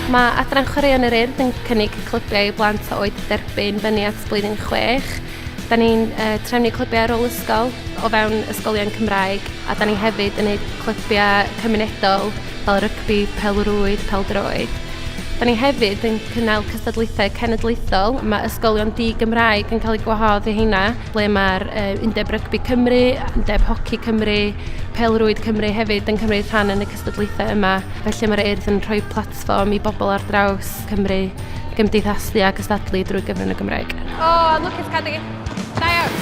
Mae Adran Chwaraeon yr Urdd yn cynnig clybiau i blant o oed derbyn fyny at blwyddyn 6. Da ni'n uh, trefnu clybiau ar ôl ysgol o fewn ysgolion Cymraeg a da ni hefyd yn gwneud clybiau cymunedol fel rygbi, pelrwyd, peldroed. Da ni hefyd yn cynnal cystadlaethau cenedlaethol. Mae ysgolion di-Gymraeg yn cael eu gwahodd i heina. ble mae'r Undeb Rygbi Cymru, Undeb Hoci Cymru, Pelrwyd Cymru hefyd yn cymryd rhan yn y cystadlaethau yma. Felly mae'r Urdd yn rhoi platfform i bobl ar draws Cymru gymdeithasu a gystadlu drwy gyfrwng y Gymraeg. O, oh, lwcus cadw. Da iawn.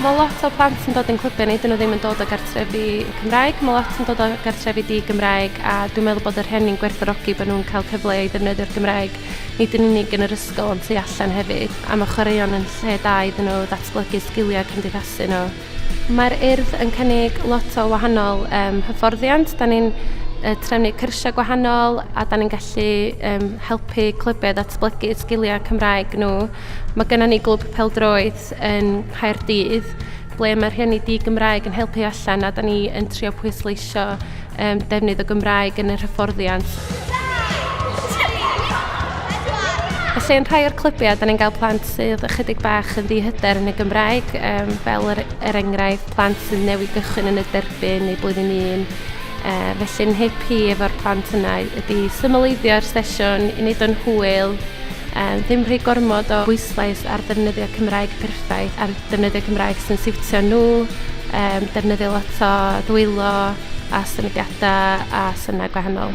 Mae lot o plant yn dod yn clybio ni, dyn nhw ddim yn dod o gartrefi Cymraeg, mae lot yn dod o gartrefi di Gymraeg a dwi'n meddwl bod yr hyn ni'n gwerthorogi bod nhw'n cael cyfle i ddefnyddio'r Gymraeg nid yn unig yn yr ysgol ond tu allan hefyd, a mae chwaraeon yn lle da iddyn nhw ddatblygu sgiliau cymdeithasu nhw. Mae'r Urdd yn cynnig lot o wahanol um, hyfforddiant. Da ni'n uh, trefnu cyrsiau gwahanol a da ni'n gallu um, helpu clybiau ddatblygu sgiliau Cymraeg nhw. Mae gennym ni glwb peldroed yn Caerdydd ble mae rhieni di-Gymraeg yn helpu allan a da ni yn trio pwysleisio um, defnydd o Gymraeg yn yr hyfforddiant. Felly yn rhai o'r clybiau, da ni'n cael plant sydd ychydig bach yn ddihyder yn y Gymraeg, um, fel er, er enghraifft plant sydd newid gychwyn yn y derbyn neu blwyddyn un. Uh, felly'n hip hi efo'r plant yna ydy symleiddio'r sesiwn i wneud o'n hwyl, um, ddim rhy gormod o bwyslais ar ddefnyddio Cymraeg perffaith ar defnyddio Cymraeg sy'n siwtio nhw, um, defnyddio lot o ddwylo a symudiadau a synnau gwahanol.